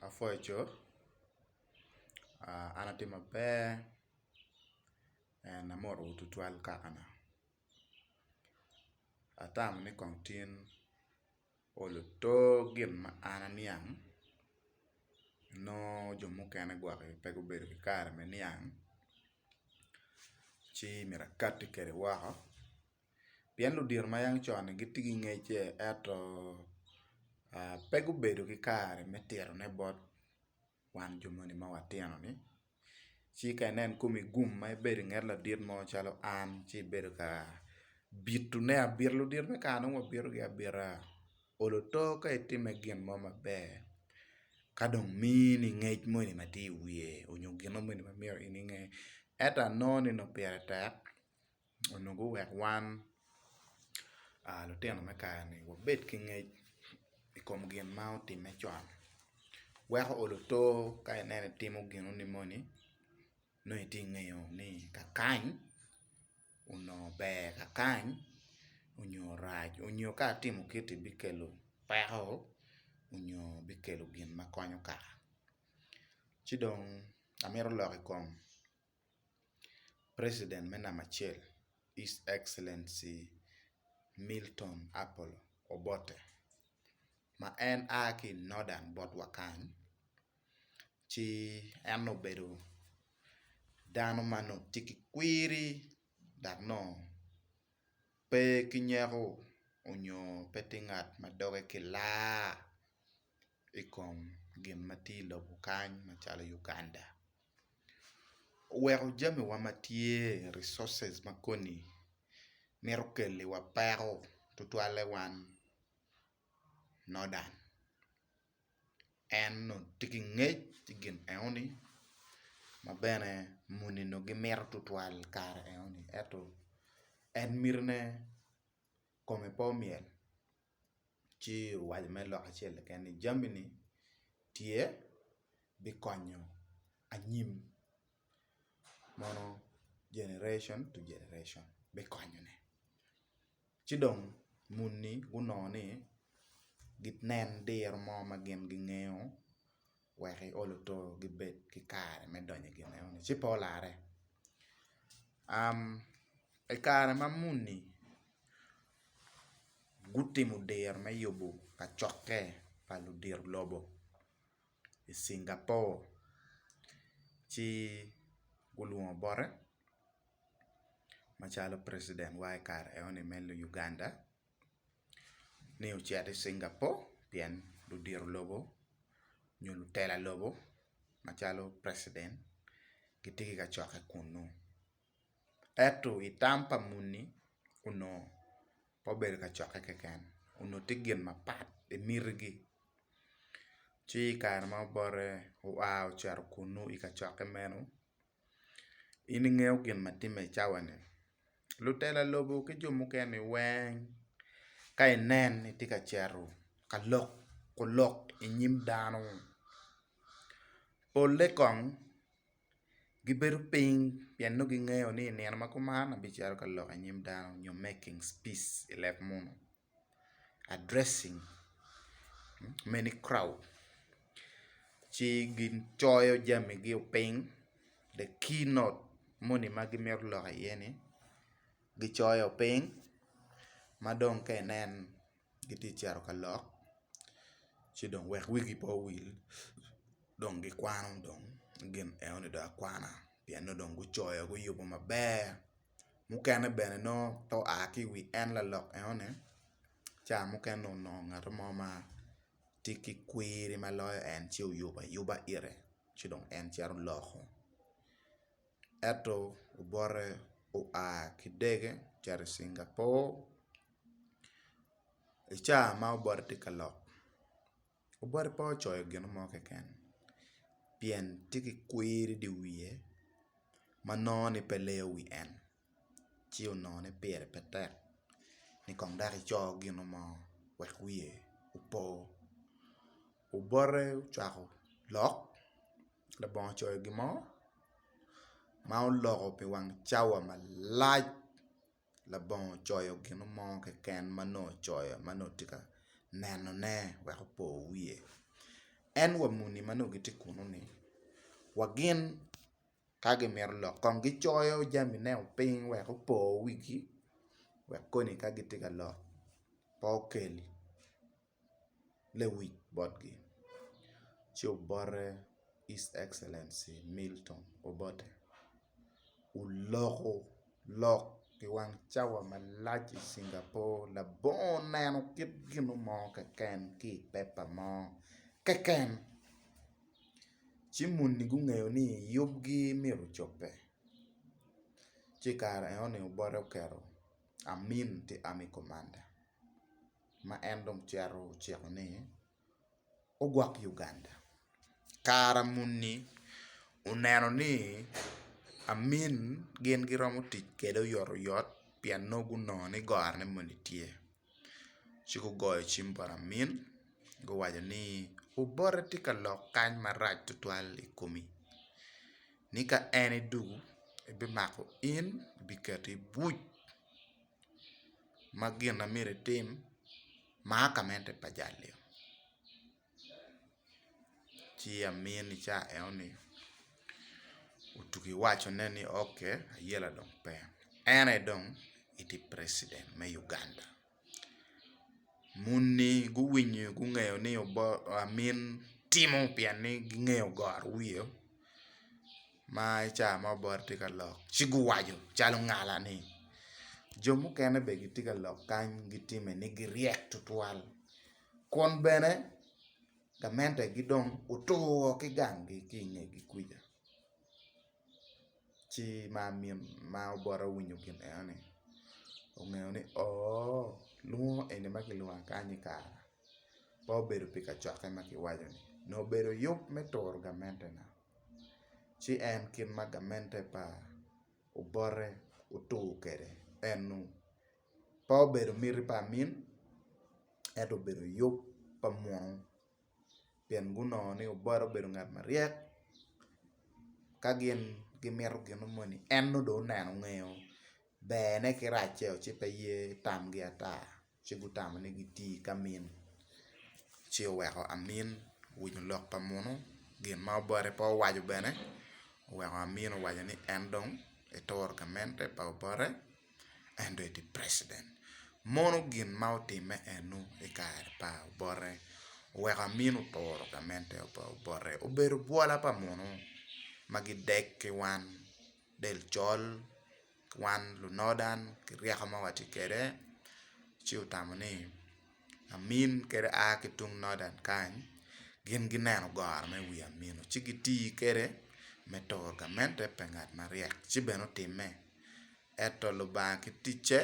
Apwoyo coo, an atye maber and amoto wo tutwal kakana, atamo ni kong tin o lutor gin ma an aniang nongo jo mukene gwok aye pe gubedo ki kare me niang ci myero akati kwede woko. pien ludito ma yang con-ni gitye ki ngecce ento pe gubedo ki kare me titone bot wan jo moni ma watino-ni ci ka inen kome gum ma ibedo i nget ladit mo calo an ci ibedo ka bitone abita ludito me kare nongo wabitogi abita olo oto ka itime gin mo maber ka dong mini ngec moni ma tye i wiye onyo gino moni ma myero in inge ento anongo ni nongo pire tek. onongo guweko wan lutino me kare-ni wabed ki ngec i kom gin ma otimme con. Weko olo otor ka ineno itimo ginoni moni nongo itye ka ngeyo ni kakany onongo ber kakany onyo rac onyo ka atimo kiti bikelo peko onyo bikelo gin ma konyo kara ci dong amito lok i kom President me namba acel, His Excellency Milton Apollo Obote ma en a ki i Northern bot wa kany ci en obedo dano ma nongo tye ki kwiri dok nongo pe ki nyeko nyo pe tye ngat ma doge ki laa. i kom gin ma tye i lobo kany macalo Uganda. Oweko jamiwa ma tye, resources, ma koni mito keliwa peko tutwalle wan Northern. En dong tye ki ngec i gin enoni ma bene muni dong gimito tutwal i kare enoni ento en mitine kome pe omyel. ci owaco mere lok acel keken ni jami ni tye bikonyo anyim mono generation to generation bikonyo ne ci dong muni gunongo ni ginen diro mo ma gin gingeyo wek iol oto gibed ki kare me donyo i gin enoni ci pe olarre. I kare ma muni gutimo diro me yubo kacokke pa ludito lobo i Cingapore ci gulwongo bote macalo precident wa i kare enoni me Luganda. ni ocito i Cingapore pien ludito lobo nyo lutela lobo macalo president gitye ki kacokke kunnu ento i tam pa muni onongo pe obedo kacokke keken onongo tye gin mapat i mitigi ci i kare ma obote oa ocito kunnu i kacokke meno In ingeyo gin ma timme i cawa-ni? Lutela lobo ki jo mukene-ni weng ka inen ni itye ka cito ka loko lok i nyim dano, polle kong gibedo piny pien nongo gingeyo ni i nino ma kuman abicito ka lok i nyim dano nyo making peace i leb munu. addressing many crowd ci gin coyo jami gi o piny the key note moni ma gimito lok iye ni gicoyo piny ma dong ka inen gitye cito ka lok ci dong wek wigi pe owil dong gikwano dong gin eno ni dong akwana pien ni dong gucoyo guyubo maber. mukene bene nongo pe oa ki i wi en lalok enoni ca mukene onongo ngat mo ma tye ki kwiri ma loyo en ci oyubo ayuba ite ci dong en cito loko ento obote oa ki dege ocito i Cingapur i ca ma obote tye ka lok. Obote pe ocoyo gin mo keken pien tye ki kwir i dye wiye ma nongo ni pe leyo wi en ci onongo ni pire pe tek ni kong dok ico gin mo wek wiye opo. Obote ocwako lok labongo ocoyo gin mo ma oloko pi wang cawa malac. labongo ocoyo gino mo keken ma nongo ocoyo ma nongo tye ka nenone wek opo wiye. En wa muni ma nongo gitye kunu-ni wa gin ka gimito lok kong gicoyo jamineo piny wek opo wigi wek koni ka gitye ka lok pe okel lewic botgi, ci obote His Excellency Milton Obote oloko lok i wang cawa malac i Singapore labongo neno kit gino mo keken ki i pepa mo keken ci muni gungeyo ni yubgi myero ocobbe ci i kare enoni Obote oketo Amin to Army Commander. ma en dong cito ociko ni ogwok Uganda. Kara muni oneno ni Amin gin giromo tic kwede oyot oyot pien nongo gunongo ni gorone moni tye. Ci gugoyo cim bot Amin guwaco ni obote tye ka lok kany marac tutwal i komi ni ka en idwogo ebimako in ebiketo i buc. ma gin ma myero itim maa ka mente pa jal-liu ci amin i cawa enoni otugi owacone ni ok ayela dong pe en aye dong itye president me Uganda muni guwinyo gungeyo ni amin timo pien ni gingeyo goro wiye. ma i ca ma Obote tye ka lok ci guwaco calo ngala ni jo mukene bene gitye ka lok kany gitime ni giryek tutwal kun bene gamenegi dong otur woko ki ganggi ki i ngegi kwija ci ma obote owinyo gin eno ni ongeyo ni oo lwongo eni ma kilwonga kany-nyi kara pe obedo pi kacokke ma kiwaco-ni nongo obedo yub me turo gamente na. ci en kit ma gamente pa Obote otur kwede enu, pe obedo miti pa amin ento obedo yub pa munu pien gunongo ni Obote obedo ngat maryek ka gin gimito gino moni en nongo dong oneno ongeyo berne ki racce ci pe ye tamgi ata. ci gutamo ni gitii ka min, ci oweko amin owinyo lok pa munu gin ma obote pe owaco bene oweko amin owaco ni en dong etoro gamente pa obote en dong etye president mono gin ma otime enu i kare pa obote oweko amin otoro gamente pa obote obedo bwola pa munu ma gideg ki wan del col. wan lunodan ki ryeko ma watye kwede ci otamo ni amin kadi a ki tung nodan kany gin gineno goro me wi amino ci giti kwede me turo gamente pa ngat maryek ci bene otimme ento Lubanga ki ticce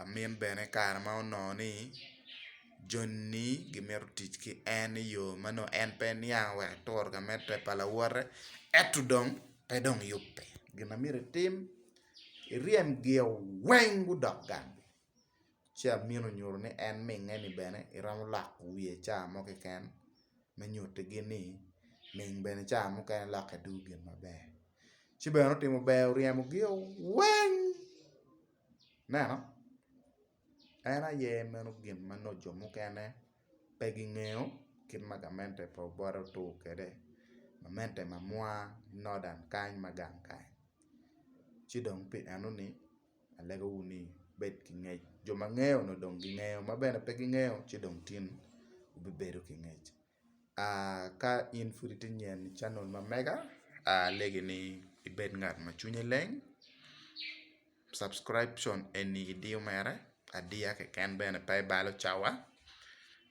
amin bene kare ma onongo ni joni gimito tic ki en i yo ma nongo en pe niang wek aturo ka med pe pa lawote ento dong pe dong yubbe gin ma myero itim iryem gio weng gudok gang ci amin onyuto ni en minge ni bene iromo loko wiye ca mo keken me nyuti gi ni ming bene ca mukene lokke dong gin maber ci bene otimo ber oryemo gio weng Ineno? En aye meno gin ma nongo jo mukene pe gingeyo kit ma gamente pa Obote otur kwede, gamente mamwa Nodan kany ma gang kany. Ci dong pi enoni alegowu ni wubed ki ngec. Jo ma ngeyo onongo dong gingeyo, ma bene pe gingeyo ci dong tin wubibedo ki ngec. Ka in pud itye nyen i canel ma mega alegi ni ibed ngat ma cwinye leng subcription eni idiyo mere adiya keken bene pe ibalo cawa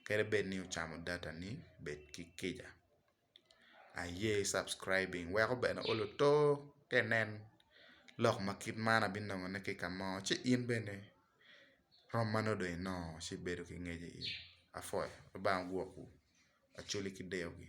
kadi bed ni ocamo data ni bed ki kica aye subcribing weko bene o luto ka inen lok ma kit man abinongo ne ki kamo ci in bene Rom ma nongo dong inongo ci ibedo ki ngec iye. Apwoyo. Lubanga ogwokwu. Acholi ki deyogi.